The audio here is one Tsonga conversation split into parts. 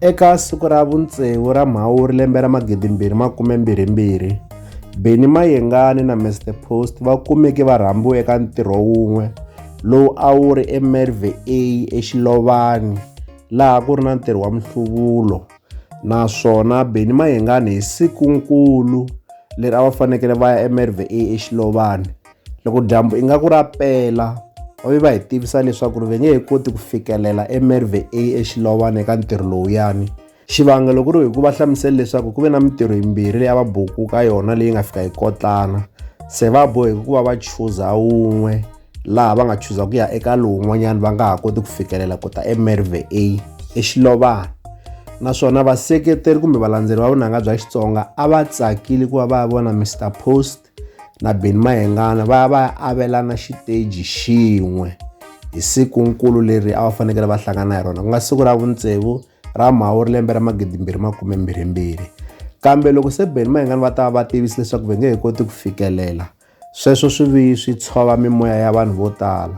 Eka siku ra vuntseu ra Mhawuri lembe ra 2022, Benny Mayengani na Mr The Post va kumeke va rhambiwe eka ntirho wun'we lowu a wu ri eMerve A eXilovani laha ku ri na ntirho wa nhluvulo naswona Benny Mayengani hi siku nkulu leri a va fanekele va ya eMerve A eXilovani Loko dyambu ingaku ra pela, va ve va hi tivisa leswaku va nge he koti ku fikelela eMerve A eXilowana eka ntirho lowuyani. Xivangelo ku ri hi ku va hlamusele leswaku ku ve na mintirho yimbirhi leyi a va buku ka yona leyi nga fika yi kotlana, se va boheke ku va va chuza wun'we laha va nga chuza ku ya eka lowun'wanyana va nga ha koti ku fikelela ku ta eMerve A eXilovana. Naswona vaseketeri kumbe valandzeri va vunanga bya Xitsonga a va tsakile ku va va vona Mister Post na Benny Mayengana va ya va ya avelana xiteji xin'we hi siku nkulu leri a va fanekele va hlangana hi rona ku nga siku ra vutsevu ra mhawuri lembe ra magidimbirhi makume mbirhimbirhi kambe loko se Benny Mayengana va ta va va tivisi leswaku va nge he koti ku fikelela sweswo swi vi swi tshova mimoya ya vanhu vo tala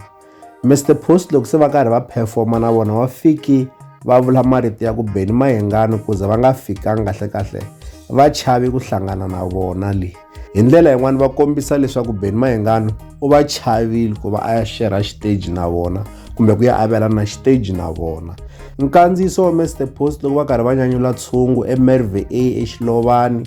Mister Post loko se va karhi va performa na vona va fiki va vula marito ya ku beni mayengani ku za va nga fikanga kahlekahle va chavi ku hlangana na vona le hi ndlela yin'wana va kombisa leswaku beni mayengani u va chavile ku va a ya xerha xiteji na vona kumbe ku ya avelana xiteji na vona nkandziyiso wa mister post loko va karhi va nyanyula tshungu emerve a exilovani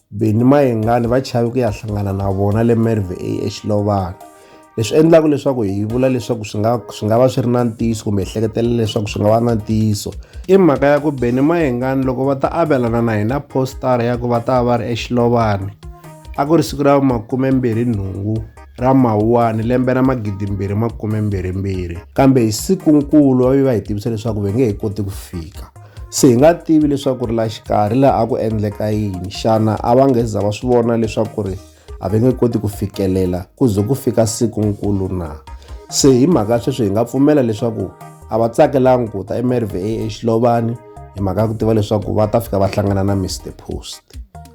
Benny Mayengani va chave ku ya hlangana na vona le Merve A eXilovana. Leswi endlaka leswaku hi vula leswaku swi nga swi nga va swi ri na ntiyiso kumbe ehleketela leswaku swi nga va na ntiyiso i mhaka ya ku Benny Mayengani loko va ta avelana na hina postara ya ku va ta va ri eXilovani a ku ri siku ra makumembirhi nhungu ra mawuwani lembe ra magidimbirhi makumembirhimbirhi kambe hi siku nkulu va ve va hi tivisa leswaku va nge he koti ku fika se hi nga tivi leswaku ri la xikarhi laha a ku endleka yini xana a va nge za va swi vona leswaku ri a va nge koti ku fikelela ku ze ku fika siku nkulu na se hi mhaka sweswi hi nga pfumela leswaku a va tsakelanga ku ta emerva exilobani hi mhaka ya ku tiva leswaku va ta fika va hlangana na mr post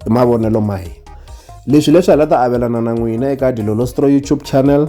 i mavonelo ma hina leswi leswi hi la ta avelana na n'wina eka dilolostro youtube channel